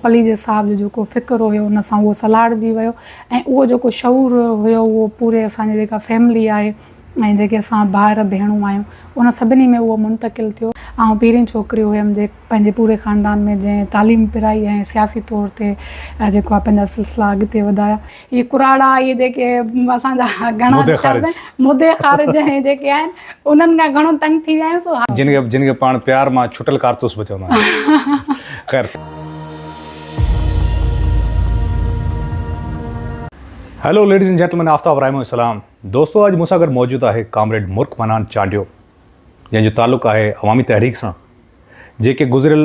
پليجي صاحب جو جيڪو فڪر هيو ان سان اهو سلهاڙجي ويو ۽ اهو جيڪو شعور هيو اهو پوري اسان جي جيڪا فيملي آهي ۽ جيڪي اسان ڀائر ڀيڻون آهيون ان سڀني ۾ اهو منتقل ٿيو. آئون پهرين ڇوڪري هيم جي پنهنجي پوري خاندان ۾ جنهن تعليم پرائي ۽ سياسي طور تي جيڪو آهي پنهنجا سلسلا اڳتي وڌايا. هي ڪراڙا اهي جيڪي اسان جا گهڻا مدي خارج ۽ جيڪي آهن انهن کان گهڻو تنگ ٿي ويا آهيون سو ها. جن کي پاڻ پيار مان ڇٽل ڪارتوس به چوندا آهن خير. Hello ladies and gentlemen Aftab Raimo جو سلام دوستو اڄ مون سان گڏ موجود آهي ڪامريڊ مرڪ منان چانڊيو جنهن جو تعلق آهي عوامي تحريڪ سان جيڪي گذريل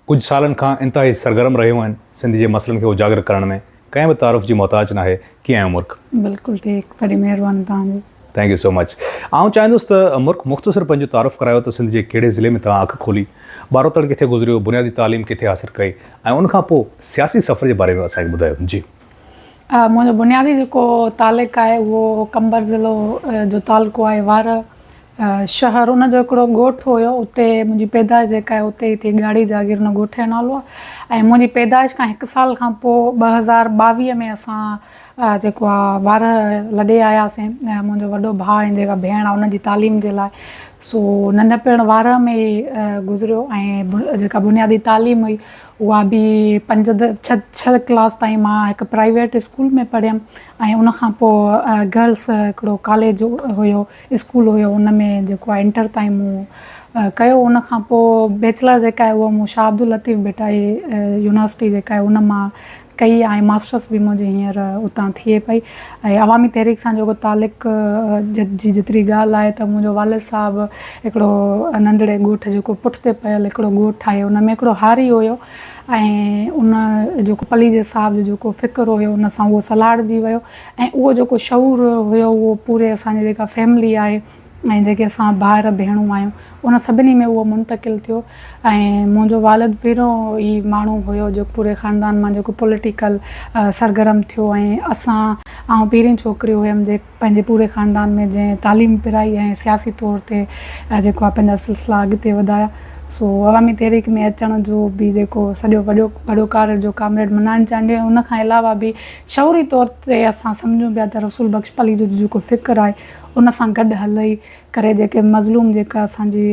ڪجهه سالن کان انتهائي سرگرم رهيون آهن سنڌ جي مسئلن کي اجاگر ڪرڻ ۾ ڪنهن به تعارف جي محتاج ناهي ڪيئن آهيو مرڪ. بلڪل ٺيڪ وڏي مهرباني توهان جي. ٿينڪ يو سو مچ آئون چاهيندس ته مرڪ مختصر پنهنجو تعارف ڪرايو ته سنڌ جي ڪهڙي ضلعي ۾ توهان اک کولي ٻاروتڻ ڪٿي گذريو بنيادي تعليم ڪٿي حاصل ڪئي ۽ ان کان پوء سياسي سفر جي باري ۾ اسان کي ٻڌايو جي. منهنجو بنيادي جيڪو تعلق آهي اهو قمبر ضلعو جو تعلقو آهي وارهه شهر ان جو هڪڙو ڳوٺ هيو اتي منهنجي پيدائش جيڪا آهي اتي ٿي ڳاڙهي جاگير ان ڳوٺ جو نالو آهي ۽ منهنجي پيدائش کان هڪ سال کان پوء ٻه هزار ٻاويهه ۾ اسان جيڪو آهي وارهه لڏي آياسين ۽ منهنجو وڏو ڀاء ۽ جيڪا ڀيڻ آهي ان جي تعليم جي لاء سو ننڍپڻ وارهه ۾ گذريو ۽ جيڪا بنيادي تعليم هئي اها به پنج ڇهه ڪلاس تائين مان هڪ پرائيويٽ اسڪول ۾ پڙهيم ۽ ان کان پوء گرلس هڪڙو ڪاليج هيو اسڪول هيو ان ۾ جيڪو آهي انٽر تائين مون ڪيو ان کان پوء بيچلر جيڪا آهي اها مون شاهه عبداللطيف ڀٽائي يونيورسٽي جيڪا آهي ان مان ڪئي ۽ ماسٽرس به منهنجي هينئر اتان ٿئي پئي ۽ عوامي تحريڪ سان جيڪو تعلق جي جيتري ڳالهه آهي ته منهنجو والد صاحب هڪڙو ننڍڙي ڳوٺ جيڪو پٺتي پيل هڪڙو ڳوٺ آهي ان ۾ هڪڙو هاري هيو ۽ ان جيڪو پليجي صاحب جو جيڪو فڪر هيو ان سان اهو سلهاڙجي ويو ۽ اهو جيڪو شعور هيو اهو پوري اسان جي جيڪا فيملي آهي ۽ جيڪي اسان ڀائر ڀيڻون آهيون ان سڀني ۾ اهو منتقل ٿيو ۽ منهنجو والد پهريون ئي ماڻهو هيو جو پوري خاندان مان جيڪو پوليٽيڪل سرگرم ٿيو ۽ اسان آئون پهرين ڇوڪري هيم جي پنهنجي پوري خاندان ۾ جنهن تعليم پرائي ۽ سياسي طور تي جيڪو آهي پنهنجا سلسلا اڳتي وڌايا سو عوامي تحريڪ ۾ اچڻ جو به جيڪو سڄو وڏو وڏو ڪارج جو ڪامريڊ منان چانڊيو ۽ ان کان علاوه به شعوري طور تي اسان سمجهون پيا ته رسول بخش پليجو جو جيڪو فڪر آهي ان سان گڏ هلئي ڪري جيڪي مظلوم جيڪا اسان جي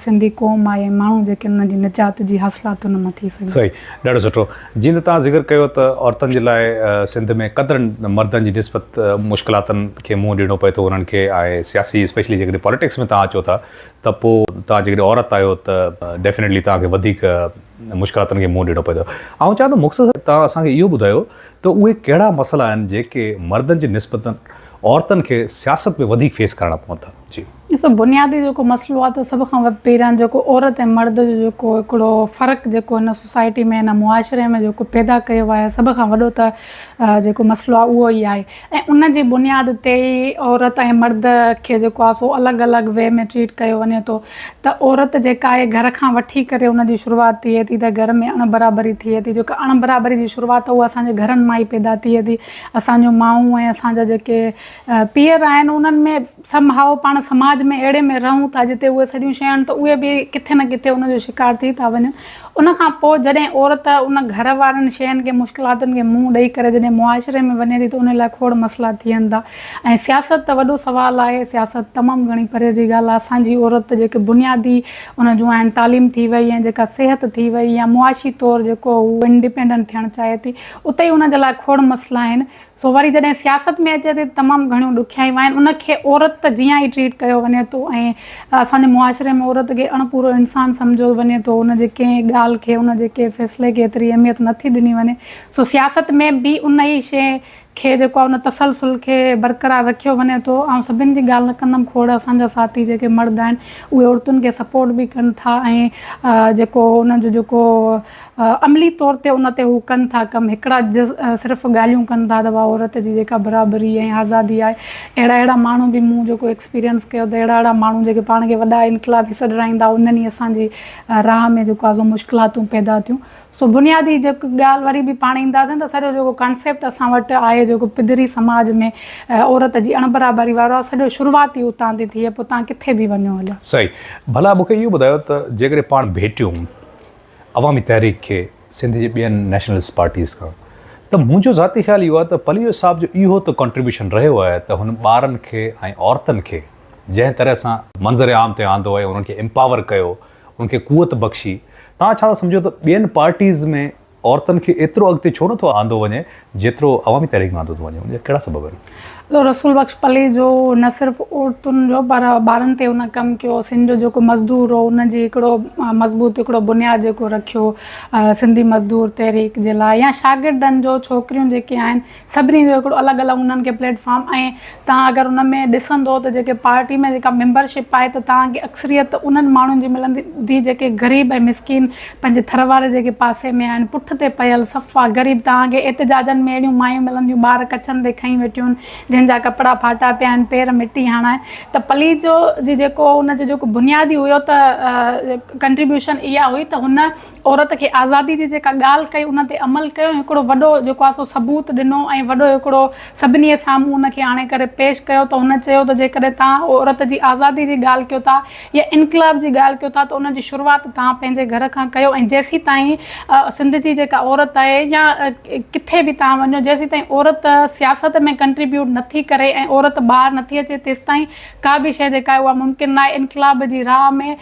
سنڌي قوم آهي ۽ ماڻهو جيڪي انهن جي نجات جي حاصلات ان مان ٿي سگهن. صحيح ڏاڍو سٺو جيئن ته توهان ذڪر ڪيو ته عورتن جي لاء سنڌ ۾ قدرن مردن جي نسبت مشڪلاتن کي منهن ڏيڻو پئي ٿو انهن کي ۽ سياسي اسپيشلي جيڪڏهن پاليٽڪس ۾ توهان اچو ٿا ته پو توهان جيڪڏهن عورت آهيو ته ڊيفينيٽلي توهان کي وڌيڪ مشڪلاتن کي منهن ڏيڻو پئي ٿو آئون چاهيان ٿو مختصر توهان اسان کي اهو ٻڌايو ته اهي ڪهڙا مسئلا آهن جيڪي مردن جي نسبت عورتن کي سياست ۾ وڌيڪ فيس ڪرڻا پون ٿا؟ جي. ڏسو بنيادي جيڪو مسئلو آهي ته سڀ کان پهريان جيڪو عورت ۽ مرد جو جيڪو هڪڙو فرق جيڪو هن سوسائٽي ۾ هن معاشري ۾ جيڪو پيدا ڪيو ويو آهي سڀ کان وڏو ته جيڪو مسئلو آهي اهو ئي آهي ۽ ان جي بنياد تي ئي عورت ۽ مرد کي جيڪو آهي سو الڳ الڳ وي ۾ ٽريٽ ڪيو وڃي ٿو ته عورت جيڪا آهي گهر کان وٺي ڪري ان جي شروعات ٿئي ٿي ته گهر ۾ اڻ برابري ٿئي ٿي جيڪا اڻ برابري جي شروعات اها اسان جي گهرن مان ئي پيدا ٿئي ٿي اسان جون مائون ۽ اسان جا جيڪي پيئر آهن انهن ۾ سم هائو پاڻ سماج ۾ اهڙي ۾ رهون ٿا جتي اهي سڄيون شيون ته اهي به ڪٿي نه ڪٿي ان جو شڪار ٿي ٿا وڃن ان کان پوء جڏهن عورت ان گهر وارن شين کي مشڪلاتن کي منهن ڏئي ڪري جڏهن معاشري ۾ وڃي ٿي ته ان لاء کوڙ مسئلا ٿين ٿا ۽ سياست ته وڏو سوال آهي سياست تمام گهڻي پري جي ڳالهه آهي اسان جي عورت جيڪي بنيادي ان جون آهن تعليم ٿي وئي ۽ جيڪا صحت ٿي وئي يا معاشي طور جيڪو هو انڊيپينڊنٽ ٿيڻ چاهي ٿي اتي ان جي لاء کوڙ مسئلا آهن سو وري جڏهن سياست ۾ اچي ٿي ته تمام گهڻيون ڏکيائيون آهن، ان کي عورت جيان ئي ٽريٽ ڪيو وڃي ٿو ۽ اسان جي معاشري ۾ عورت کي اڻ پورو انسان سمجهيو وڃي ٿو، ان جي ڪنهن ڳالهه کي، ان جي ڪنهن فيصلي کي ايتري اهميت نه ٿي ڏني وڃي، سو سياست ۾ به ان ئي شيء کي جيڪو آهي ان تسلسل کي برقرار رکيو وڃي ٿو، آئون سڀن جي ڳالهه نه ڪندم، کوڙ اسان جا ساٿي جيڪي مرد آهن اهي عورتن کي سپورٽ به ڪن ٿا ۽ جيڪو انهن جو جيڪو عملي طور تي ان تي هو ڪن ٿا ڪم. هڪڙا صرف ڳالهيون ڪن ٿا ته واهه عورت جي جيڪا برابري ۽ آزادي آهي. اهڙا اهڙا ماڻهو به مون جيڪو ايڪسپيرينس ڪيو ته اهڙا اهڙا ماڻهو جيڪي پاڻ کي وڏا انقلابي سڏرائيندا هئا انهن ئي اسان جي راهه ۾ جيڪو آهي سو مشڪلاتون پيدا ٿيون. سو بنيادي جيڪو ڳالهه وري به پاڻ اينداسين ته سڄو جيڪو ڪانسيپٽ اسان وٽ آهي جيڪو پڌري سماج ۾ عورت جي اڻبرابري وارو آهي سڄو شروعات ئي اتان ٿي ٿئي پوء تان ڪٿي به وڃو هليا. سائين ڀلا مون کي اهو ٻڌايو ته جيڪڏهن پاڻ ڀيٽيون عوامي تحريڪ کي سنڌ جي ٻين نيشنلسٽ پارٽيز کان ته منهنجو ذاتي خيال اهو آهي ته پليجو صاحب جو اهو ته ڪنٽريبيوشن رهيو آهي ته هن ٻارن کي ۽ عورتن کي جنهن طرح سان منظر عام تي آندو ۽ انهن کي امپاور ڪيو انهن کي قوت بخشي توهان ڇا ٿا سمجهو ته ٻين پارٽيز ۾ عورتن کي ايترو اڳتي ڇو نٿو آندو وڃي جيترو عوامي تحريڪ آندو ٿو وڃي ان جا ڪهڙا سبب آهن؟ جو رسول بخش پليجو نه صرف عورتن جو پر ٻارن تي هن ڪم ڪيو سنڌ جو جيڪو مزدور هو ان جي هڪڙو مضبوط هڪڙو بنياد جيڪو رکيو سنڌي مزدور تحريڪ جي لاء يا شاگردن جو ڇوڪريون جيڪي آهن سڀني جو هڪڙو الڳ الڳ انهن کي پليٽ فارم ۽ توهان اگر ان ۾ ڏسندو ته جيڪي پارٽي ۾ جيڪا ميمبر شپ آهي ته توهان کي اڪثريت انهن ماڻهن جي ملندي جيڪي غريب ۽ مسڪين پنهنجي ٿر واري جيڪي پاسي ۾ آهن پٺ تي پيل صفا غريب توهان کي احتجاجن ۾ اهڙيون مايون ملنديون ٻار ڪڇن تي کنئي ويٺيون جن جا ڪپڙا ڦاٽا پيا آهن پير مٽي هڻائي ته پليجو جي جيڪو ان جو جيڪو بنيادي هيو ته ڪنٽريبيوشن اها هئي ته هن عورت کي آزادي جي جيڪا ڳالهه ڪئي ان تي عمل ڪيو ۽ هڪڙو وڏو جيڪو آهي سو ثبوت ڏنو ۽ وڏو هڪڙو سڀني سامهون ان کي آڻي ڪري پيش ڪيو ته هن چيو ته جيڪڏهن توهان عورت جي آزادي جي ڳالهه ڪيو ٿا يا انقلاب جي ڳالهه ڪيو ٿا ته ان جي شروعات توهان پنهنجي گهر کان ڪيو ۽ جيسيتائين سنڌ جي جيڪا عورت آهي يا ڪٿي به توهان وڃو جيسيتائين عورت سياست ۾ ڪنٽريبيوٽ نٿي ڪري ۽ عورت ٻاهر نٿي اچي تيستائين ڪا به شيء جيڪا آهي اها ممڪن ناهي انقلاب جي راهه ۾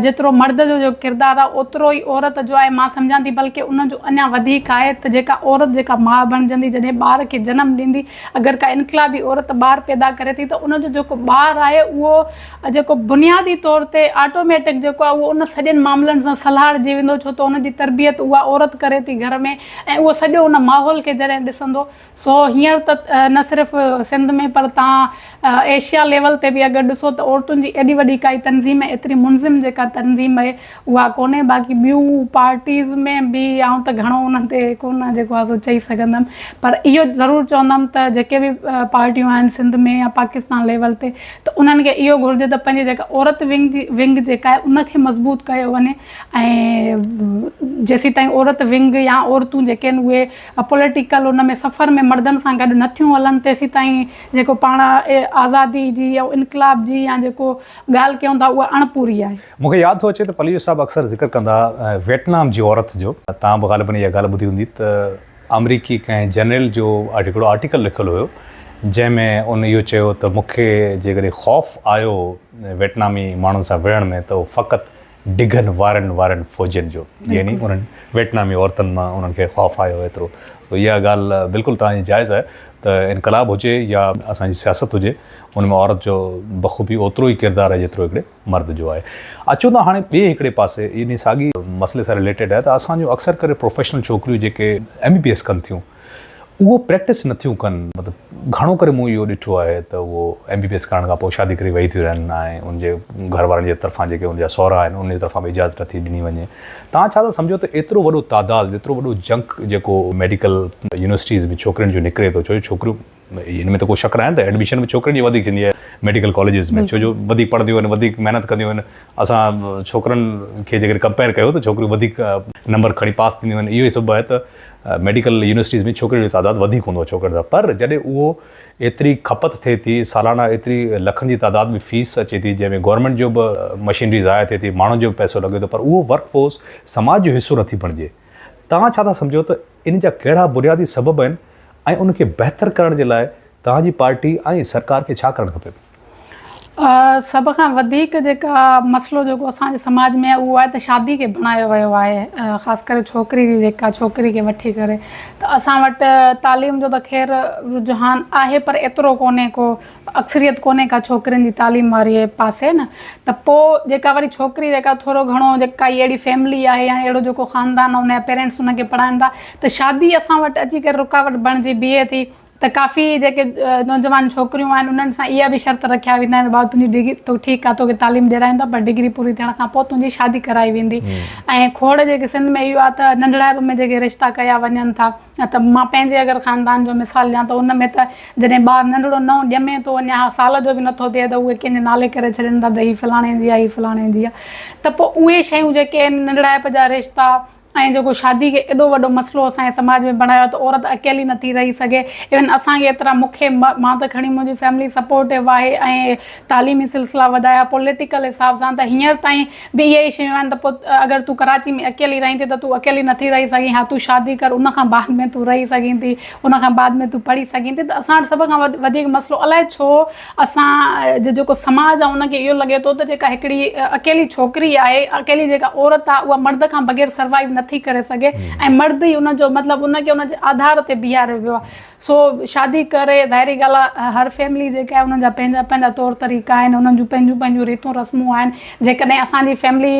جيترو مرد جو جو ڪردار آهي اوترو ئي عورت جو آهي مان سمجهان ٿي بلڪه ان جو اڃا وڌيڪ آهي ته جيڪا عورت جيڪا ماء بڻجندي جڏهن ٻار کي جنم ڏيندي اگر ڪا انقلابي عورت ٻار پيدا ڪري ٿي ته ان جو جيڪو ٻار آهي اهو جيڪو بنيادي طور تي آٽوميٽڪ جيڪو آهي اهو ان سڄن معاملن سان سلهاڙجي ويندو ڇو ته ان جي تربيت اها عورت ڪري ٿي گهر ۾ ۽ اهو سڄو ان ماحول کي جڏهن ڏسندو سو هينئر ته نه صرف سنڌ ۾ پر تان ايشيا ليول تي به اگر ڏسو ته عورتن جي ايڏي وڏي ڪائي تنظيم ۽ ايتري منظم جيڪا تنظيم اهي اها ڪونهي باقي ٻيون پارٽيز ۾ به آئون ته گهڻو انهن تي ڪونه جيڪو آهي سو چئي سگهندم پر اهو ضرور چوندم ته جيڪي به پارٽيون آهن سنڌ ۾ يا پاڪستان ليول تي ته انهن کي اهو گهرجي ته پنهنجي جيڪا عورت ونگ جي ونگ جيڪا آهي ان کي مضبوط ڪيو وڃي ۽ جيسيتائين عورت ونگ يا عورتون جيڪي آهن اهي ا پوليٽيڪل ان ۾ سفر ۾ مردن سان گڏ نه ٿيون هلن تيسيتائين جيڪو پاڻ آزادي جي يا انقلاب جي يا جيڪو ڳالهه ڪيون ٿا اها اڻ پوري آهي. مون کي ياد ٿو اچي ته پليجو صاحب اڪثر ذڪر ڪندا ويٽنام جي عورت جو. توهان به غالباً اها ڳالهه ٻڌي هوندي ته آمريڪي ڪنهن جرنيل جو هڪڙو آرٽيڪل لکيل هيو جنهن ۾ ان اهو چيو ته مون کي جيڪڏهن خوف آيو ويٽنامي ماڻهن سان وڙهڻ ۾ ته اهو فقط ڊگهن وارن وارن فوجين جو يعني انهن ويٽنامي عورتن مان انهن کي خوف آيو ايترو سو اها ڳالهه بلڪل توهان جي جائز آهي ته انقلاب هجي يا اسان جي سياست هجي ان ۾ عورت جو بخوبي اوترو ئي ڪردار آهي جيترو هڪڙي مرد جو آهي اچو ته هاڻي ٻئي هڪڙي پاسي انهي ساڳي مسئلي سان رليٽيڊ آهي ته اسان جون اڪثر ڪري پروفيشنل ڇوڪريون جيڪي ايم بي پي ايس ڪن ٿيون اهو پريڪٽس نٿيون ڪن مطلب گهڻو ڪري مون اهو ڏٺو آهي ته اهو ايم بي بي ايس ڪرڻ کان پوء شادي ڪري ويهي ٿيون رهن ۽ ان جي گهر وارن جي طرفان جيڪي ان جا سهرا آهن انهن جي طرفان به اجازت نٿي ڏني وڃي توهان ڇا ٿا سمجهو ته ايترو وڏو تعداد ايترو وڏو جنڪ جيڪو ميڊيڪل يونيورسٽيز ۾ ڇوڪرين جو نڪري ٿو ڇو جو ڇوڪريون ان ۾ ته ڪو شڪ ناهي ته ايڊميشن به ڇوڪرين جي وڌيڪ ٿيندي آهي ميڊيڪل ڪاليجز ۾ ڇو جو وڌيڪ پڙهنديون آهن وڌيڪ محنت ڪنديون آهن اسان ڇوڪرن کي جيڪڏهن ڪمپيئر ڪيو ته ڇوڪريون وڌيڪ نمبر کڻي پاس ٿينديون آهن اهو ئي سبب آهي ته ميڊيڪل يونيورسٽيز ۾ ڇوڪرين جو تعداد وڌيڪ هوندو آهي ڇوڪرن سان پر جڏهن اهو ايتري کپت ٿئي ٿي سالانه ايتري لکن جي تعداد ۾ فيس اچي ٿي جنهن ۾ گورنمينٽ جو به مشينري ضايع ٿئي ٿي ماڻهن جو به پئسو لڳي ٿو پر اهو ورڪ فورس سماج جو حصو نٿي بڻجي توهان ڇا ٿا سمجهو ته ان جا ڪهڙا بنيادي سبب آهن ۽ ان کي بهتر ڪرڻ جي لاء توهان جي پارٽي ۽ سرڪار کي ڇا ڪرڻ کپي؟ سڀ کان وڌيڪ جيڪا مسئلو جيڪو اسان جي سماج ۾ اهو آهي ته شادي کي بڻايو ويو آهي خاص ڪري ڇوڪري جي جيڪا ڇوڪري کي وٺي ڪري ته اسان وٽ تعليم جو ته خير رجحان آهي پر ايترو ڪونهي ڪو اڪثريت ڪونهي ڪا ڇوڪرين جي تعليم واري پاسي نه ته پو جيڪا وري ڇوڪري جيڪا ٿورو گهڻو جيڪا ڪائي اهڙي فيملي آهي يا اهڙو جيڪو خاندان آهي ان جا پيرينٽس ان کي پڙهائن ٿا ته شادي اسان وٽ اچي ڪري رڪاوٽ بڻجي بيهي ٿي ته ڪافي جيڪي نوجوان ڇوڪريون آهن انهن سان اها به شرط رکيا ويندا آهن ته بابا تنهنجي ڊگري تو ٺيڪ آهي توکي تعليم ڏيرايون ٿا پر ڊگري پوري ٿيڻ کان پو تنهنجي شادي ڪرائي ويندي ۽ کوڙ جيڪي سنڌ ۾ اهو آهي ته ننڍڙائپ ۾ جيڪي رشتا ڪيا وڃن ٿا نه ته مان پنهنجي اگر خاندان جو مثال ڏيان ته ان ۾ ته جڏهن ٻار ننڍڙو نئون ڄمي ٿو اڃا سال جو به نه ٿو ٿئي ته اهي ڪنهن جي نالي ڪري ڇڏين ٿا ته هي فلاڻي جي آهي هي فلاڻي جي آهي ته پوء اهي شيون جيڪي آهن ننڍڙائپ جا رشتا ۽ جيڪو شادي کي ايڏو وڏو مسئلو اسان جي سماج ۾ بڻايو آهي ته عورت اڪيلي نه ٿي رهي سگهي ايون اسان کي ايترا مون کي مان ته کڻي منهنجي فيملي سپورٽو آهي ۽ تعليمي سلسلا وڌايا، پوليٽيڪل حساب سان ته هينئر تائين به اهي ئي شيون آهن ته پوء اگر تون ڪراچي ۾ اڪيلي رهين ٿي ته تون اڪيلي نٿي رهي سگهين، ها تون شادي ڪر ان کان بعد ۾ تون رهي سگهين ٿي، ان کان بعد ۾ تون پڙهي سگهين ٿي ته اسان وٽ سڀ کان وڌيڪ مسئلو الائي ڇو اسان جو جيڪو سماج آهي ان کي اهو لڳي ٿو ته جيڪا هڪڙي اڪيلي ڇوڪري آهي، اڪيلي جيڪا عورت آهي اها مرد کان بغير سروائيو نٿي ڪري سگهي ۽ مرد ئي ان جو مطلب ان کي ان جي آڌار تي بيهاريو ويو آهي. سو شادي ڪري ظاهري ڳالهه آهي هر فيملي جيڪا آهي انهن جا پنهنجا پنهنجا طور طريقا آهن انهن جون پنهنجون پنهنجون ريتون رسمون آهن جيڪڏهن اسان جي فيملي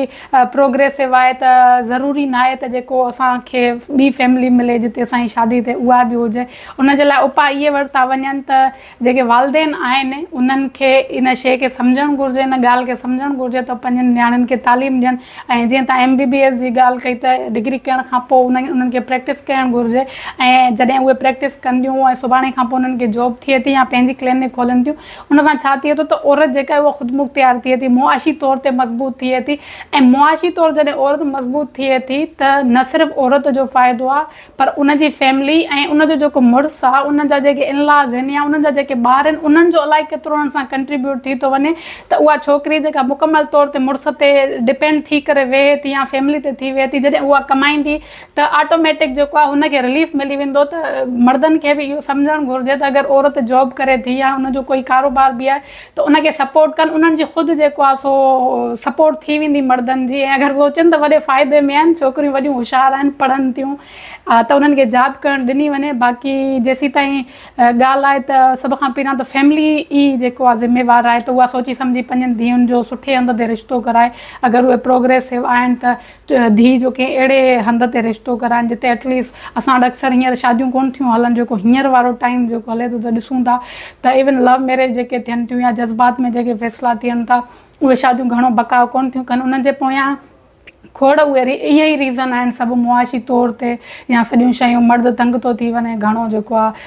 پروگريسو آهي ته ضروري ناهي ته جيڪو اسان کي ٻي فيملي ملي جتي اسان جي شادي ٿئي اها به هجي ان جي لاء اپاء اهي ورتا وڃن ته جيڪي والدين آهن انهن کي ان شيء کي سمجهڻ گهرجي ان ڳالهه کي سمجهڻ گهرجي ته پنهنجن نياڻين کي تعليم ڏين ۽ جيئن توهان ايم بي بي ايس جي ڳالهه ڪئي ته ڊگري ڪرڻ کان پوء انهن کي پريڪٽس ڪرڻ گهرجي ۽ جڏهن اهي پريڪٽس ڪن ٿيون ۽ سڀاڻي کان پوء انهن کي جاب ٿئي ٿي يا پنهنجي ڪلينڪ کولن ٿيون ان سان ڇا ٿئي ٿو ته عورت جيڪا آهي اها خودمختيار ٿئي ٿي معاشي طور تي مضبوط ٿئي ٿي ۽ معاشي طور جڏهن عورت مضبوط ٿئي ٿي ته نه صرف عورت جو فائدو آهي پر ان جي فيملي ۽ ان جو جيڪو مڙس آ ان جا جيڪي ان لاز هن يا انهن جا جيڪي ٻار هن انهن جو الائي ڪيترو انهن سان ڪنٽريبيوٽ ٿي ٿو وڃي ته اها ڇوڪري جيڪا مڪمل طور تي مڙس تي ڊپينڊ ٿي ڪري ويهي ٿي يا فيملي تي ٿي ويهي ٿي جڏهن اها ڪمائيندي ته آٽوميٽڪ جيڪو آ هن کي رليف ملي ويندو ته مڙدن کي به اهو سمجهڻ گهرجي ته اگر عورت جاب ڪري ٿي يا ان جو ڪوئي ڪاروبار به آهي ته ان کي سپورٽ ڪن انهن جي خود جيڪو آهي سو سپورٽ ٿي ويندي مڙدن جي ۽ اگر سوچن ته وڏي فائدي ۾ آهن ڇوڪريون وڏيون هوشيار آهن پڙهن ٿيون ته انهن کي جاب ڪرڻ ڏني وڃي باقي جيسيتائين ڳالهه آهي ته سڀ کان پهريان ته فيملي ئي جيڪو آهي ذميوار آهي ته اها سوچي سمجهي پنهنجن ڌيئن جو سٺي هنڌ تي رشتو ڪرائي اگر اهي پروگريسو آهن ته ڌيء جو ڪنهن اهڙي هنڌ تي رشتو ڪرائن جتي ايٽ ليسٽ اسان وٽ اڪثر هينئر شاديون ڪونه ٿيون هلن جيڪو هينئر وارو ٽائيم جيڪو هلي ٿو ته ڏسون ٿا ته ايون لو ميريج جيڪي ٿين ٿيون يا جذبات ۾ جيڪي فيصلا ٿين ٿا اهي شاديون گهڻو بقاء ڪونه ٿيون ڪن انهن جي پويان کوڙ اهي ئي ريزن آهن سڀ معاشي طور تي يا سڄيون شيون مرد تنگ ٿو ٿي وڃي گهڻو جيڪو آهي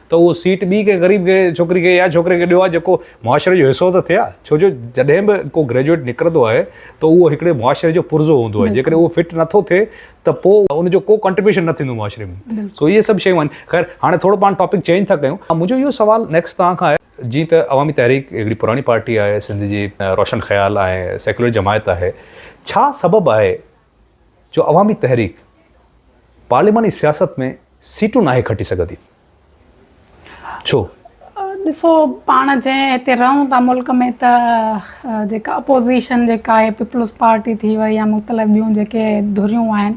ته اهو سيٽ ٻي ڪنهن غريب کي ڇوڪري کي يا ڇوڪري کي ڏيو ها جيڪو معاشري جو حصو ته ٿئي ها ڇو جو جڏهن به ڪو گريجوئيٽ نڪرندو آهي ته اهو هڪڙي معاشري جو پرزو هوندو آهي جيڪڏهن اهو فٽ نٿو ٿئي ته پوء ان جو ڪو ڪنٽريبيوشن نه ٿيندو معاشري ۾ سو اهي سڀ شيون آهن خير هاڻي ٿورو پاڻ ٽاپڪ چينج ٿا ڪيون منهنجو اهو سوال نيڪسٽ توهان کان آهي جيئن ته عوامي تحريڪ هڪڙي پراڻي پارٽي آهي سنڌ جي روشن خيال ۽ سيڪيولر جماعت آهي ڇا سبب آهي جو عوامي تحريڪ پارلياماني سياست ۾ سيٽون ناهي کٽي سگهندي. ڇو؟ ڏسو پاڻ جنهن هتي رهون ٿا ملڪ ۾ ته جيڪا اپوزيشن جيڪا آهي پيپلز پارٽي ٿي وئي يا مختلف ٻيون جيڪي ڌريون آهن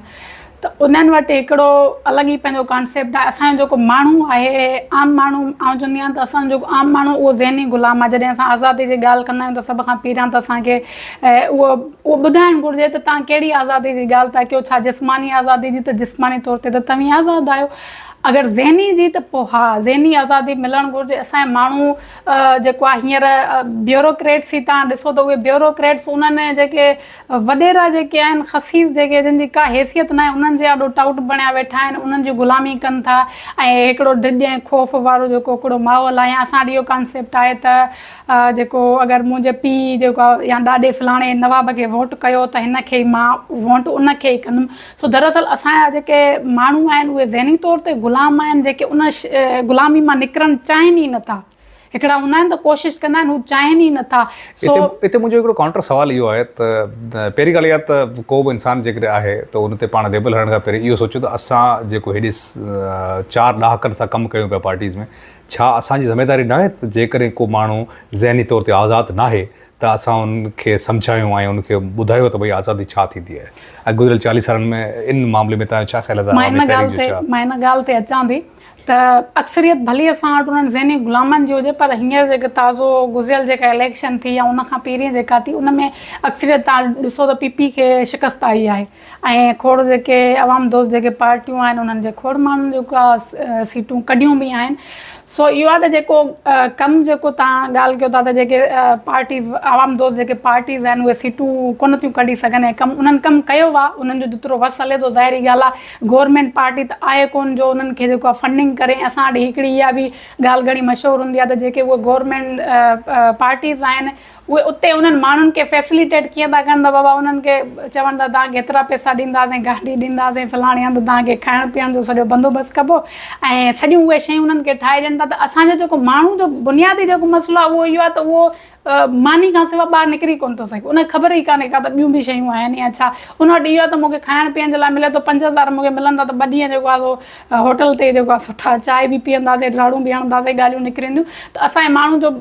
ته انهن وٽ هڪڙو الڳ ئي پنهنجو ڪانسيپٽ آهي اسان جو جيڪو ماڻهو آهي عام ماڻهو آئون چوندي آهيان ته اسان جو جيڪو عام ماڻهو اهو ذهني غلام آهي جڏهن اسان آزادي جي ڳالهه ڪندا آهيون ته سڀ کان پهريان ته اسان کي اهو اهو ٻڌائڻ گهرجي ته توهان ڪهڙي آزادي جي ڳالهه ٿا ڪيو، ڇا جسماني آزادي جي ته جسماني طور تي ته توهين آزاد آهيو، اگر ذهني جي ته پوء ها ذهني آزادي ملڻ گهرجي، اسان جا ماڻهو جيڪو آهي هينئر بيوروڪريٽس هي توهان ڏسو ته اهي بيوروڪريٽس انهن جيڪي وڏيرا جيڪي آهن خسيس جيڪي جن جي ڪا حيثيت ناهي انهن جي آڏو ٽائوٽ بڻيا ويٺا آهن انهن جي غلامي ڪن ٿا ۽ هڪڙو ڊڄ ۽ خوف وارو جيڪو هڪڙو ماحول آهي يا اسان وٽ اهو ڪانسيپٽ آهي ته جيڪو اگر منهنجي پيء جيڪو يا ڏاڏي فلاڻي نواب کي ووٽ ڪيو ته هن کي ئي مان ووٽ ان کي ئي ڪندم سو دراصل اسان جا جيڪي ماڻهو آهن اهي ذهني طور تي غلام آهن جيڪي ان غلامي مان نڪرڻ چاهين ئي نٿا هڪڙا هوندا آهن ته ڪوشش ڪندا آهن هو چاهين ئي نٿا سو هتي منهنجو هڪڙو ڪائونٽر سوال اهو آهي ته پهرين ڳالهه اها ته ڪو به انسان جيڪڏهن آهي ته ان تي پاڻ ليبل هڻڻ کان پهرين اهو سوچو ته اسان جيڪو هيڏي چار ڏهاڪن سان ڪم ڪيون پيا پارٽيز ۾ ڇا اسان جي ذميواري ناهي ته جيڪڏهن ڪو ماڻهو ذهني طور تي آزاد ناهي ته اسان ان کي سمجهايون ۽ ان کي ٻڌايو ته ڀئي آزادي ڇا ٿيندي آهي ۽ گذريل چاليهه سالن ۾ ان معاملي ۾ تنهنجا ڇا خيال آهي ته عوامي تحريڪ جو ڇا مان ان ڳالهه تي اچان ٿي ته اڪثريت ڀلي اسان وٽ انهن ذهني غلامن جي هجي پر هينئر جيڪو تازو گذريل جيڪا اليڪشن ٿي يا ان کان پهرين جيڪا ٿي ان ۾ اڪثريت تان ڏسو ته پي پي کي شڪست آئي آهي ۽ کوڙ جيڪي عوام دوست جيڪي پارٽيون آهن انهن جي کوڙ ماڻهن جيڪا سيٽون ڪڍيون به آهن سو اهو آهي ته جيڪو ڪم جيڪو تهان ڳالهه ڪيو ٿا ته جيڪي پارٽيز عوام دوست جيڪي پارٽيز آهن اهي سيٽون ڪونه ٿيون ڪڍي سگهن ۽ ڪم انهن ڪم ڪيو آهي انهن جو جيترو وس هلي ٿو ظاهري ڳالهه آهي گورنمينٽ پارٽي ته آهي ڪونه جو انهن کي جيڪو آهي فنڊنگ ڪري ۽ اسان وٽ هڪڙي اها به ڳالهه گهڻي مشهور هوندي آهي ته جيڪي اهي گورنمينٽ پارٽيز آهن اهي اتي انهن ماڻهن کي فيسليٽيٽ ڪيئن ٿا ڪن ته بابا انهن کي چون ٿا توهان کي ايترا پئسا ڏينداسين گاڏي ڏينداسين فلاڻي هنڌ توهان کي کائڻ پيئڻ جو سڄو بندوبست ڪبو ۽ سڄيون اهي شيون انهن کي ٺاهي ڏين ٿا ته اسان جو جيڪو ماڻهو جو بنيادي جيڪو مسئلو آهي اهو اهو آهي ته اهو ماني کان سواء ٻاهر نڪري ڪونه ٿو سگهي ان کي خبر ئي ڪانهي ڪا ته ٻيون به شيون آهن يا ڇا ان وٽ اهو آهي ته مون کي کائڻ پيئڻ جي لاء ملي ٿو پنج هزار مون کي ملندا ته ٻه ڏينهن جيڪو آهي سو هوٽل تي جيڪو آهي سٺا چاهه به پيئنداسين راڙون به هڻنداسين ڳالهيون نڪرنديون ته اسان جي ماڻهو جو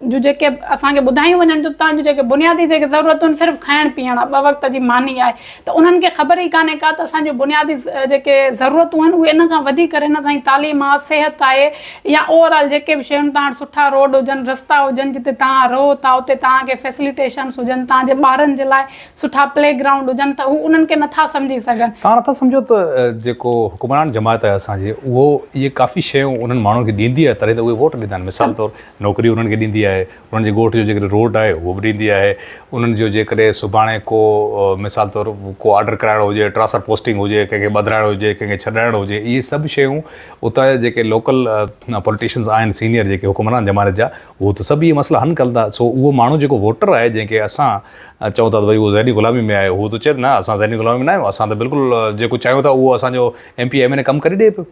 جون جيڪي اسان کي ٻڌايون وڃن ٿيون تان جون جيڪي بنيادي جيڪي ضرورتون صرف کائڻ پيئڻ آ ٻه وقت جي ماني آهي ته انهن کي خبر ئي ڪانهي ڪا ته اسان جون بنيادي جيڪي ضرورتون آهن اهي ان کان وڌيڪ ڪري نه سائين تعليم آ صحت آهي يا اوور آل جيڪي به شيون تان سٺا روڊ هجن رستا هجن جتي تان رهو ٿا اتي تان کي فيسليٽيشنس هجن تان جي ٻارن جي لاء سٺا پلي گرائونڊ هجن ته هو انهن کي نه ٿا سمجهي سگهن. تان نه ٿا سمجهو ته جيڪو حڪمران جماعت آهي اسان جي اهو اهي ڪافي شيون انهن ماڻهن کي ڏيندي آهي تڏهن ته اهي ووٽ ڏيندا آهن مثال طور نوڪري انهن کي ڏيندي آهي، انهن جي ڳوٺ جو جيڪڏهن روٽ آهي اهو به ڏيندي آهي، انهن جو جيڪڏهن سڀاڻي ڪو مثال طور ڪو آرڊر ڪرائڻو هجي، ٽرانسفر پوسٽنگ هجي، ڪنهن کي ٻڌرائڻو هجي، ڪنهن کي ڇڏرائڻو هجي، اهي سڀ شيون اتان جا جيڪي لوڪل پوليٽيشنز آهن سينئر جيڪي حڪمران زماني جا اهو ته سڀ اهي مسئلا حل ڪن ٿا، سو اهو ماڻهو جيڪو ووٽر آهي جنهن کي اسان چئون ٿا ته ڀئي اهو ذهني غلامي ۾ آهي اهو ته چئي ته نه اسان ذهني غلامي ۾ ناهيون اسان ته بلڪل جيڪو چاهيون ٿا اهو اسان جو M P M N A ڪم ڪري ڏئي پيو،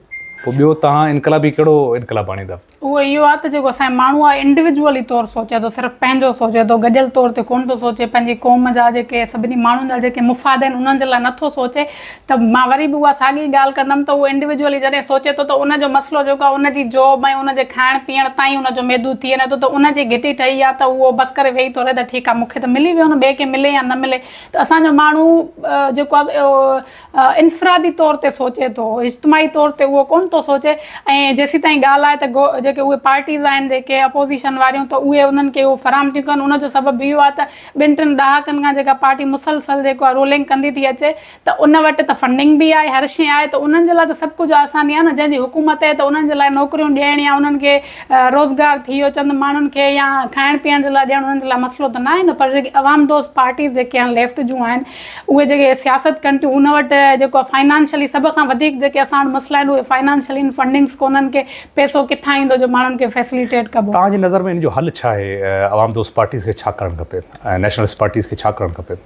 پوء ٻيو توهان انقلابي ڪهڙو انقلاب آڻيندا. اهو اهو آهي ته جيڪو اسان جو ماڻهو آهي انڊويجوئلي طور سوچي ٿو صرف پنهنجو سوچي ٿو گڏيل طور تي ڪونه ٿو سوچي پنهنجي قوم جا جيڪي سڀني ماڻهن جا جيڪي مفاد آهن انهن جي لاء نه ٿو سوچي ته مان وري به اها ساڳي ڳالهه ڪندم ته اهو انڊويجوئلي جڏهن سوچي ٿو ته ان جو مسئلو جيڪو آهي ان جي جاب ۽ ان جي کائڻ پيئڻ تائين ان جو محدود ٿي وڃي ٿو ته ان جي گهٽي ٺهي آهي ته اهو بس ڪري ويهي ٿو رهي ته ٺيڪ آهي مون کي ته ملي ويو نه ٻئي کي ملي يا نه ملي ته اسان جو ماڻهو جيڪو آهي انفرادي طور تي سوچي ٿو، اجتماعي طور تي اهو ڪونه ٿو سوچي ۽ جيسيتائين ڳالهه آهي ته گو جيڪي اهي پارٽيز آهن جيڪي اپوزيشن واريون ته اهي انهن کي اهو فراهم ٿيون ڪن ان جو سبب اهو آهي ته ٻن ٽن ڏهاڪن کان جيڪا پارٽي مسلسل جيڪو آهي رولنگ ڪندي ٿي اچي ته ان وٽ ته فنڊنگ به آهي هر شيء آهي ته انهن جي لاء ته سڀ ڪجهه آسان ئي آهي نه جنهن جي حڪومت آهي ته انهن جي لاء نوڪريون ڏيڻ يا انهن کي روزگار ٿي ويو چند ماڻهن کي يا کائڻ پيئڻ جي لاء ڏيڻ انهن جي لاء مسئلو ته ناهي نه پر جيڪي عوام دوست پارٽيز جيڪي آهن ليفٽ جون آهن اهي جيڪي سياست ڪن ٿيون ان وٽ جيڪو آهي فنانشلي سڀ کان وڌيڪ جيڪي اسان وٽ مسئلا آهن اهي فنانشلي ان فنڊنگس ڪونهن ڪي پيسو ڪٿان ايندو جو ماڻهن کي فيسليٽيٽ ڪبو. توهان جي نظر ۾ ان جو حل ڇا آهي عوام دوست پارٽيز کي ڇا ڪرڻ کپي ۽ نيشنلسٽ پارٽيز کي ڇا ڪرڻ کپي؟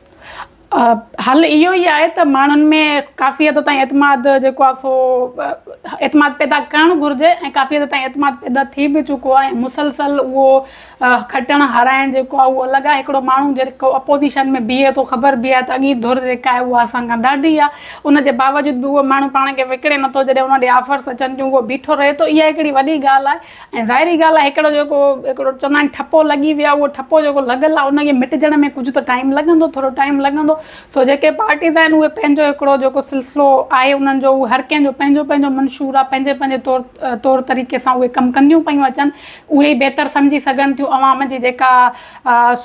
حل اهو ئي آهي ته ماڻهن ۾ ڪافي حد تائين اعتماد جيڪو آهي سو اعتماد پيدا ڪرڻ گهرجي ۽ ڪافي حد تائين اعتماد پيدا ٿي به چڪو آهي ۽ مسلسل اهو کٽڻ هارائڻ جيڪو آهي اهو الڳ آهي هڪڙو ماڻهو جيڪو اپوزيشن ۾ بيهي ٿو خبر به آهي ته اڳين ڌر جيڪا آهي اها اسان کان ڏاڍي آهي ان جي باوجود به اهو ماڻهو پاڻ کي وڪڙي نٿو جڏهن ان ڏي آفرس اچن ٿيون اهو بيٺو رهي ٿو اها هڪڙي وڏي ڳالهه آهي ۽ ظاهري ڳالهه آهي هڪڙو جيڪو هڪڙو چوندا آهن ٺپو لڳي ويو اهو ٺپو جيڪو لڳل آهي ان کي مٽجڻ ۾ ڪجهه ته ٽائيم لڳندو ٿورو ٽائيم لڳندو سو جيڪي پارٽيز آهن اهي پنهنجو هڪڙو جيڪو سلسلو آهي انهن جو اهو هر ڪنهن جو پنهنجو پنهنجو منشور آهي پنهنجي پنهنجي طور طريقي سان اهي ڪم ڪنديون پيون اچن اهي ئي بهتر سمجهي سگهن ٿيون عوام جي جيڪا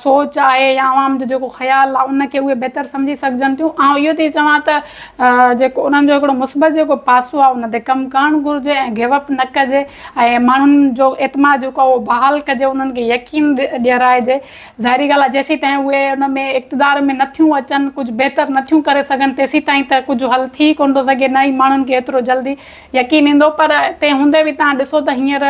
سوچ آهي يا عوام جو جيڪو خيال آهي ان کي اهي بهتر سمجهي سگهجن ٿيون آئون اهو ٿي چوان ته جيڪو انهن جو هڪڙو مثبت جيڪو پاسو آهي ان تي ڪم ڪرڻ گهرجي ۽ گيو اپ نه ڪجي ۽ ماڻهن جو اعتماد جيڪو آهي اهو بحال ڪجي انهن کي يقين ڏيرائجي ظاهري ڳالهه آهي جيسيتائين اهي ان ۾ اقتدار ۾ نه ٿيون اچن ڪجهه بهتر نه ٿيون ڪري سگهن تيسيتائين ته ڪجهه حل ٿي ڪونه ٿو سگهي نه ئي ماڻهن کي ايترو جلدي يقين ايندو پر تنهن هوندي به تهان ڏسو ته هينئر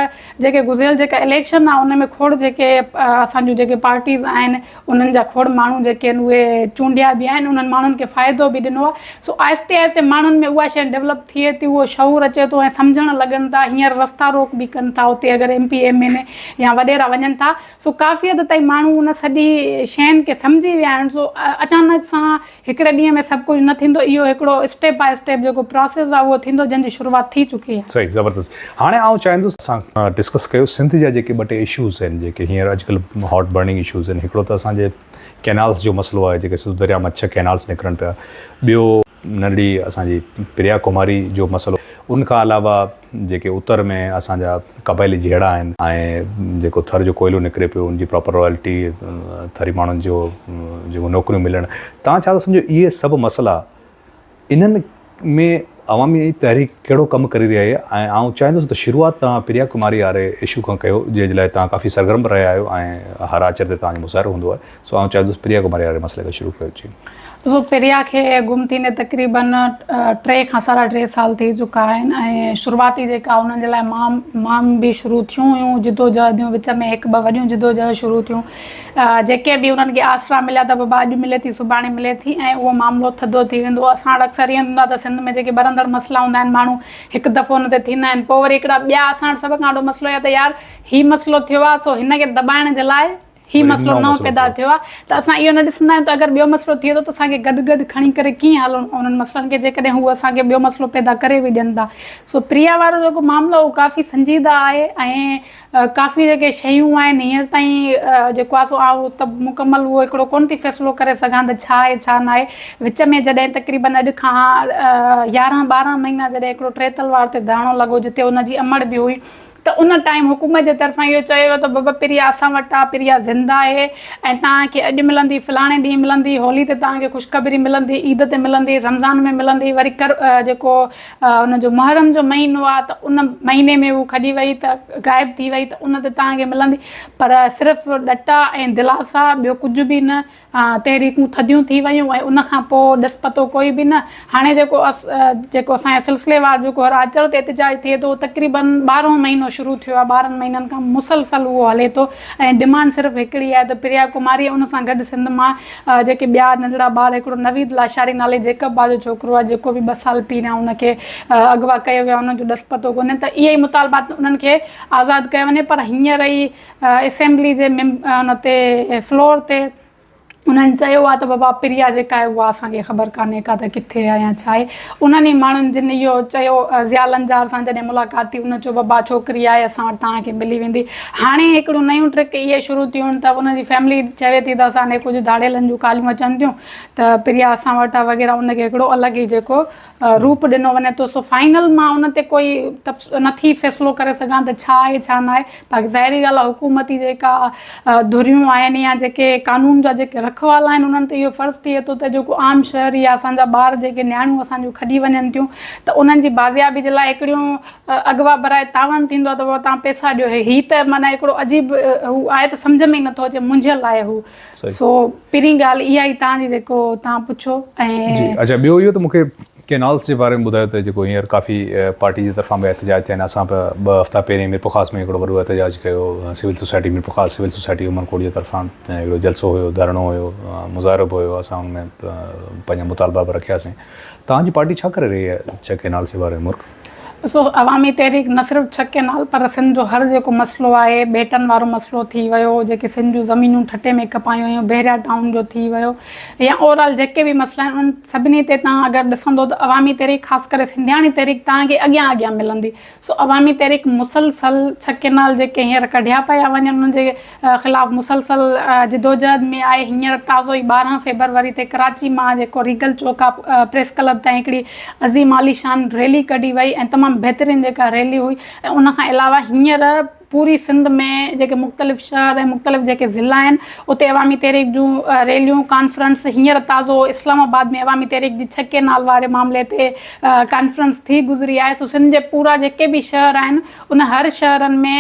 جيڪي گذريل جيڪا اليڪشن آ ان ۾ کوڙ جيڪي اسان جون جيڪي پارٽيز آهن انهن جا کوڙ ماڻهو جيڪي آهن اهي چونڊيا به آهن انهن ماڻهن کي فائدو به ڏنو آ سو آهستي آهستي ماڻهن ۾ اها شئي ڊولپ ٿئي ٿي اهو شعور اچي ٿو ۽ سمجهڻ لڳن ٿا هينئر رستا روڪ به ڪن ٿا اتي اگر M P M N A يا وڏيرا وڃن ٿا سو ڪافي حد تائين ماڻهو ان سڄي شين کي سمجهي ويا آهن سو اچانڪ سان هڪڙي ڏينهن ۾ سڀ ڪجهه نه ٿيندو اهو هڪڙو اسٽيپ باء اسٽيپ جيڪو پراسيس آهي اهو ٿيندو جنهن جي شروعات ٿي چڪي آهي. صحيح زبردست هاڻي آئون چاهيندس اسان ڊسڪس ڪيو سنڌ جا جيڪي ٻه ٽي اشوز آهن جيڪي هينئر اڄڪلهه هاٽ برننگ اشوز آهن هڪڙو ته اسان جي ڪينالس جو مسئلو آهي جيڪي سنڌو درياء مان ڇهه ڪينالس نڪرن پيا ٻيو ننڍڙي اسان جي پريا ڪماري جو مسئلو ان کان علاوه جيڪي اتر ۾ اسان جا قبائلي جهيڙا آهن ۽ جيڪو ٿر جو ڪوئلو نڪري پيو ان جي پراپر رائلٽي ٿري ماڻهن جو جيڪو نوڪريون ملڻ توهان ڇا ٿا سمجهو اهي سڀ مسئلا انهن ۾ عوامي تحريڪ ڪهڙو ڪم ڪري رهي آهي ۽ آئون چاهيندس ته شروعات توهان پريا ڪماري واري اشو کان ڪيو جنهن جي لاء توهان ڪافي سرگرم به رهيا آهيو ۽ هر آچر تي توهان جو مظاهرو هوندو آهي سو آئون چاهيندس پريا ڪماري واري مسئلي کي شروع ڪيو جي. ڏسو پريا کي گم ٿيندي تقريبن ٽي کان ساڍا ٽي سال ٿي چڪا آهن ۽ شروعاتي جيڪا انهن جي لاء مام مام به شروع ٿيون هيون جدوجهديون وچ ۾ هڪ ٻه وڏيون جدوجهد شروع ٿيون جيڪي به انهن کي آسرا مليا ته بابا اڄ ملي ٿي سڀاڻي ملي ٿي ۽ اهو معاملو ٿڌو ٿي ويندو هو اسان وٽ اڪثر ائين هوندا ته سنڌ ۾ جيڪي ٻرندڙ مسئلا هوندا آهن ماڻهو هڪ دفعو ان تي ٿيندا آهن پوء وري هڪڙا ٻيا اسان وٽ سڀ کان وڏو مسئلو اهي آهي ته يار هي مسئلو ٿيو آهي سو هن کي دٻائڻ جي لاء هي مسئلو نئون پيدا ٿيو آهي ته اسان اهو نه ڏسندا آهيون ته اگر ٻيو مسئلو ٿئي ٿو ته اسان کي گڏ گڏ کڻي ڪري ڪيئن هلڻو انهن مسئلن کي جيڪڏهن هو اسان کي ٻيو مسئلو پيدا ڪري به ڏين ٿا سو پريا وارو جيڪو معاملو اهو ڪافي سنجيده آهي ۽ ڪافي جيڪي شيون آهن هينئر تائين جيڪو آهي سو آئون ته مڪمل اهو هڪڙو ڪونه ٿي فيصلو ڪري سگهان ته ڇا آهي ڇا نه آهي وچ ۾ جڏهن تقريبن اڄ کان يارهن ٻارهن مهينا جڏهن هڪڙو ٽي تلوار تي ڌرڻو لڳو جتي ان جي امڙ به هئي ته ان ٽائيم حڪومت جي طرفان اهو چيو ويو ته بابا پريا اسان وٽ آ، پريا زنده آهي ۽ توهان کي اڄ ملندي، فلاڻي ڏينهن ملندي، هولي تي توهان کي خوشخبري ملندي، عيد تي ملندي، رمضان ۾ ملندي، وري ڪر جيڪو ان جو محرم جو مهينو آ ته ان مهيني ۾ هو کڄي وئي ته غائب ٿي وئي ته ان تي توهان کي ملندي پر صرف ڏٽا ۽ دلاسا ٻيو ڪجهه به نه. تحريڪون ٿڌيون ٿي ويون ۽ ان کان پوء ڏس پتو ڪوئي به نه. هاڻي جيڪو جيڪو اسان جي سلسليوار جيڪو هر آچر تي احتجاج ٿئي ٿو اهو تقريباً ٻارهون مهينو شروع ٿيو آهي. ٻارهن مهينن کان مسلسل اهو هلي ٿو ۽ ڊمانڊ صرف هڪڙي آهي ته پريا ڪماري ۽ ان سان گڏ سنڌ مان جيڪي ٻيا ننڍڙا ٻار هڪڙو نويد لاشاري نالي جيڪب بازو ڇوڪرو آهي جيڪو به ٻه سال پهريان ان کي اغوا ڪيو ويو آهي ان جو ڏس پتو ڪونهي ته اهي ئي مطالبا انهن کي آزاد ڪيو وڃي پر هينئر ئي اسيمبلي جي ان تي فلور تي انهن چيو آهي ته بابا پريا جيڪا آهي اها اسان کي خبر ڪانهي ڪا ته ڪٿي آهي يا ڇا آهي. انهن ئي ماڻهن جن اهو چيو ضياء لنجار سان جڏهن ملاقات ٿي ان چيو بابا ڇوڪري آهي اسان وٽ توهان کي ملي ويندي. هاڻي هڪڙيون نيون ٽرڪ اهي شروع ٿيون ته ان جي فيملي چوي ٿي ته اسان ڏي ڪجهه ڌاڙيلن جون ڪاليون اچن ٿيون ته پريا اسان وٽ آهي وغيره ان کي هڪڙو الڳ ئي جيڪو روپ ڏنو وڃي ٿو سو فائنل مان ان تي ڪوئي نه ٿي فيصلو ڪري سگهان ته ڇا آهي ڇا ناهي باقي ظاهري ڳالهه آهي حڪومتي جيڪا ڌريون آهن يا جيڪي قانون جا جيڪي رکوالا آهن انهن تي اهو فرض ٿئي ٿو ته جيڪو عام شهري يا اسان جا ٻار جيڪي نياڻيون اسان جون کڄي وڃن ٿيون ته انهن جي بازيابي جي لاء هڪڙيون اغوا برائي تعاون ٿيندو آهي ته بابا توهان پئسا ڏيو هي ته معنيٰ هڪڙو عجيب هو آهي ته سمجهه ۾ ئي نه ٿو اچي منجهيل آهي هو سو پھرين ڳالھ اها ئي تان جي جيڪو تان پڇو ۽ جي اچا ٻيو اهو ته مون کي ڪينالس جي باري ۾ ٻڌايو ته جيڪو هينئر ڪافي پارٽي جي طرفان به احتجاج ٿيا آهن اسان به ٻه هفتا پهرين ميرپورخاص ۾ هڪڙو وڏو احتجاج ڪيو civil society Mirpurkhas civil society Umerkot جي طرفان هڪڙو جلسو هيو ڌرڻو هيو مظاهرو به هيو اسان ان ۾ پنهنجا مطالبا به رکياسين تان جي پارٽي ڇا ڪري رهي آهي ڇا ڪينالس جي باري ۾ مرڪ ڏسو عوامي تحريڪ نه صرف ڇهه ڪئنال پر سنڌ جو هر جيڪو مسئلو آهي، ٻيٽن وارو مسئلو ٿي ويو، جيڪي سنڌ جون زمينون ٺٽي ۾ ڪپايون ويون، بحريا ٽائون جو ٿي ويو يا اوور آل جيڪي به مسئلا آهن انهن سڀني تي توهان اگر ڏسندو ته عوامي تحريڪ خاص ڪري سنڌياڻي تحريڪ توهان کي اڳيان اڳيان ملندي. سو عوامي تحريڪ مسلسل ڇهه ڪئنال جيڪي هينئر ڪڍيا پيا وڃن انهن جي خلاف مسلسل جدوجهد ۾ آهي هينئر تازو ئي ٻارهن فيبروري تي ڪراچي مان جيڪو ريگل چوڪ کان پريس ڪلب تائين هڪڙي عظيم عاليشان ريلي ڪڍي وئي ۽ تمام بهترين جيڪا ريلي هئي ۽ ان کان علاوه هينئر پوري سنڌ ۾ جيڪي مختلف شهر ۽ مختلف جيڪي ضلعا آهن اتي عوامي تحريڪ جون ريليون ڪانفرنس هينئر تازو اسلام آباد ۾ عوامي تحريڪ جي ڇهه ڪينال واري معاملي تي ڪانفرنس ٿي گذري آهي سو سنڌ جي پورا جيڪي به شهر آهن ان هر شهرن ۾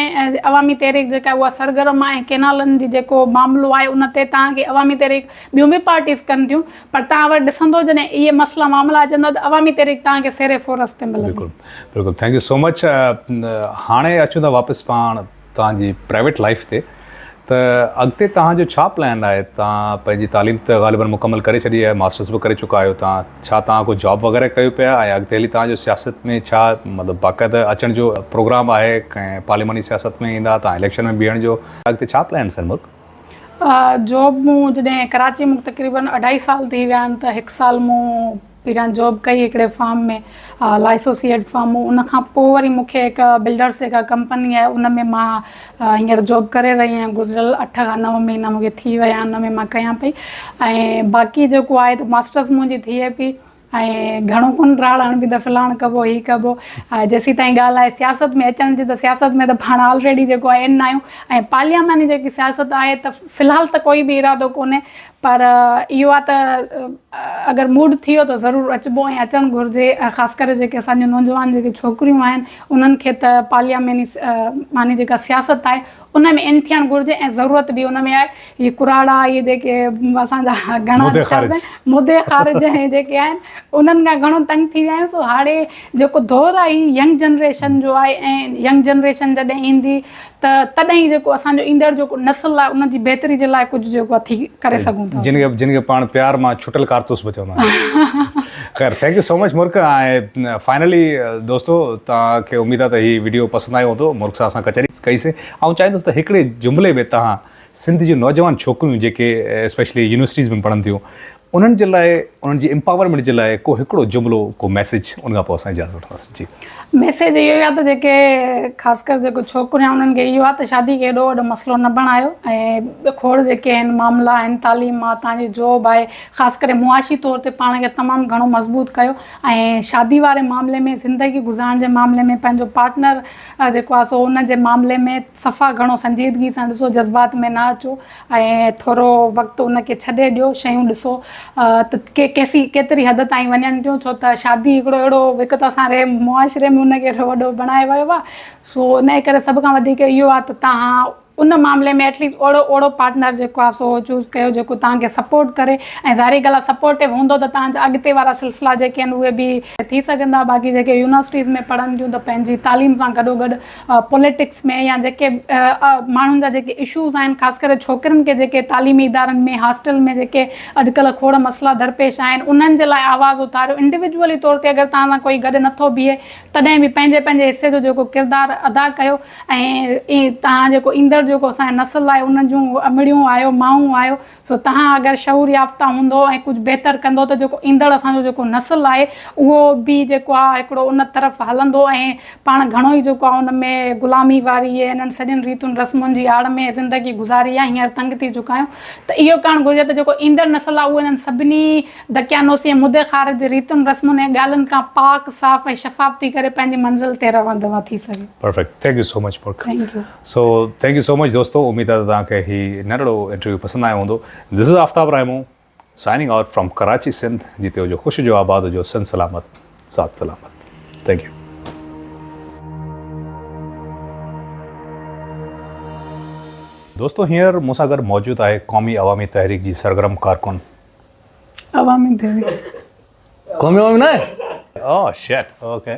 عوامي تحريڪ جيڪا اها سرگرم آهي ۽ ڪينالن جي جيڪو معاملو آهي ان تي توهان کي عوامي تحريڪ ٻيون به پارٽيز ڪن ٿيون پر توهان وري ڏسندو جڏهن اهي مسئلا معاملا اچندا ته عوامي تحريڪ توهان کي سيري فورس تي ملندي. بلڪل بلڪل ٿينڪ يو سو مچ هاڻي اچون ٿا واپس پاڻ توهان جي پرائيويٽ لائيف تي. ته اڳتي توهان جو ڇا پلان آهي؟ توهان پنهنجي تعليم ته غالباً مڪمل ڪري ڇڏي آهي، ماسٽرس به ڪري چڪا آهيو توهان، ڇا توهان ڪو جاب وغيره ڪيو پيا ۽ اڳتي هلي توهان جو سياست ۾ ڇا مطلب باقاعده اچڻ جو پروگرام آهي ۽ پارلياماني سياست ۾ ايندا توهان اليڪشن ۾ بيهڻ جو اڳتي ڇا پلان سر ملڪ جاب مون جڏهن ڪراچي مون تقريباً اڍائي سال ٿي ويا آهن ته هڪ سال مون پهريان جاب ڪئي هڪڙي فارم ۾ لائسوسيئيڊ فارم ان کان پوء وري مون کي هڪ بلڊرس هڪ ڪمپني آهي ان ۾ مان هينئر جاب ڪري رهي آهيان گذريل اٺ کان نو مهينا مون کي ٿي ويا ان ۾ مان ڪيان پئي ۽ باقي جيڪو آهي ته ماسٽرس منهنجي ٿئي پئي ۽ گهڻو ڪونه راڙ هڻبي ته فلاڻ ڪبو هي ڪبو جيسين تائين ڳالهه آهي سياست ۾ اچڻ جي ته سياست ۾ ته پاڻ آلريڊي جيڪو آهي ان آهيون ۽ پارلياماني جيڪي سياست آهي ته فلحال ته ڪوئي به ارادو ڪونهي پر اهو آهي ته اگر موڊ ٿيو ته ضرور اچبو ۽ اچڻ گهرجي خاص ڪري جيڪي اسان جون نوجوان جيڪي ڇوڪريون آهن انهن کي ته پارلياماني ماني جيڪا سياست آهي ان ۾ ان ٿيڻ گهرجي ۽ ضرورت به ان ۾ آهي هي ڪراڙا هي جيڪي اسان جا گهڻا مدي خارج مدي خارج هي جيڪي آهن انهن کان گهڻو تنگ ٿي ويا آهيون سو هاڙي جيڪو دور آهي هي ينگ جنريشن جو آهي ۽ ينگ جنريشن جڏهن ايندي ته تڏهن ئي جيڪو اسان جو ايندڙ جيڪو نسل آهي ان جي بهتري جي لاء ڪجهه جيڪو اٿي ڪري سگهون ٿا جن کي جن کي پاڻ پيار مان ڇٽل ڪارتوس به چوندا آهن خير ٿينڪ يو سو مچ مرڪ ۽ فائنلي دوستو تان کي اميد آهي ته هي ويڊيو پسند آيو هوندو مرڪ صاحب سان ڪچهري ڪئي سي آئون چاهيندس ته هڪڙي جملي ۾ تان سنڌ جون نوجوان ڇوڪريون جيڪي اسپيشلي يونيورسٽيز ۾ پڙهن ٿيون انهن جي لاء انهن جي امپاورمينٽ جي لاء ڪو هڪڙو جملو ڪو ميسيج ان کان پوء اسان اجازت وٺنداسين جي. ميسيج اهو ئي آهي ته جيڪي خاص ڪر جيڪو ڇوڪريون آهن انهن کي اهو آهي ته شادي کي ايڏو وڏو مسئلو نه بڻايو ۽ کوڙ جيڪي آهن معاملا آهن تعليم آهي توهان جي جاب آهي خاص ڪري معاشي طور تي پاڻ کي تمام گهڻو مضبوط ڪيو ۽ شادي واري معاملي ۾ زندگي گذارڻ جي معاملي ۾ پنهنجو پارٽنر جيڪو آهي سو ان جي معاملي ۾ صفا گهڻو سنجيدگي سان ڏسو جذبات ۾ نه اچو ۽ ٿورو وقت ان کي ڇڏي ڏيو، شيون ڏسو ته ڪي ڪيسي ڪيتري حد تائين وڃن ٿيون، ڇو ته شادي هڪڙو اهڙو هڪ ته اسان ري معاشري ۾ ان کي اهڙو وڏو بڻائي ويو آ، سو انهي ڪري سڀ کان وڌيڪ اهو آ ته توهان ان معاملي ۾ ايٽ ليسٽ اهڙو اهڙو پارٽنر جيڪو آ سو چوز ڪيو جيڪو توهان کي سپورٽ ڪري ۽ ظاهري ڳالهه آ سپورٽو هوندو ته توهان جا اڳتي وارا سلسلا جيڪي آهن اهي به ٿي سگهندا، باقي جيڪي يونيورسٽيز ۾ پڙهن ٿيون ته پنهنجي تعليم سان گڏو گڏ پوليٽڪس ۾ يا جيڪي ماڻهن جا جيڪي اشوز آهن خاص ڪري ڇوڪرين کي جيڪي تعليمي ادارن ۾ هاسٽل ۾ جيڪي اڄ ڪلهه کوڙ مسئلا درپيش آهن انهن جي لاء آواز اٿاريو انڊيوڊيولي طور تي اگر توهان سان ڪوئي گڏ نٿو بيهي تڏهن به پنهنجي پنهنجي حصي جو جيڪو ڪردار ادا ڪيو ۽ توهان جيڪو ايندڙ جيڪو اسان جي نسل آهي ان جون امڙيون آهيو مائون آهيو سو تهان اگر شعور يافته هوندو ۽ ڪجهه بهتر ڪندو ته جيڪو ايندڙ اسان جو جيڪو نسل آهي اهو به جيڪو آهي هڪڙو ان طرف هلندو ۽ پاڻ گهڻو ئي جيڪو آهي ان ۾ غلامي واري ۽ انهن سڄن ريتن رسمن جي آڙ ۾ زندگي گذاري آهي هينئر تنگ ٿي چڪا آهيون ته اهو ڪرڻ گهرجي ته جيڪو ايندڙ نسل آهي اهو انهن سڀني دقيانوسي ۽ مدي خارج جي ريتن رسمن ۽ ڳالهين کان پاڪ صاف ۽ شفاف ٿي ڪري پنهنجي منزل تي روانڌوان ٿي سگهي. Perfect. Thank you so much Purkh. Thank you. So thank you so much دوستو اميد آهي ته توهان کي هي ننڍڙو انٽرويو پسند آيو هوندو this is Aftab Raimo signing out from Karachi Sindh جتي هجو خوش هجو آباد هجو سنڌ سلامت ذات سلامت ٿينڪ يو. دوستو هينئر مون سان گڏ موجود آهي قومي عوامي تحريڪ جي سرگرم ڪارڪن عوامي تحريڪ قومي عوامي نه آهي اوه شيٽ اوڪي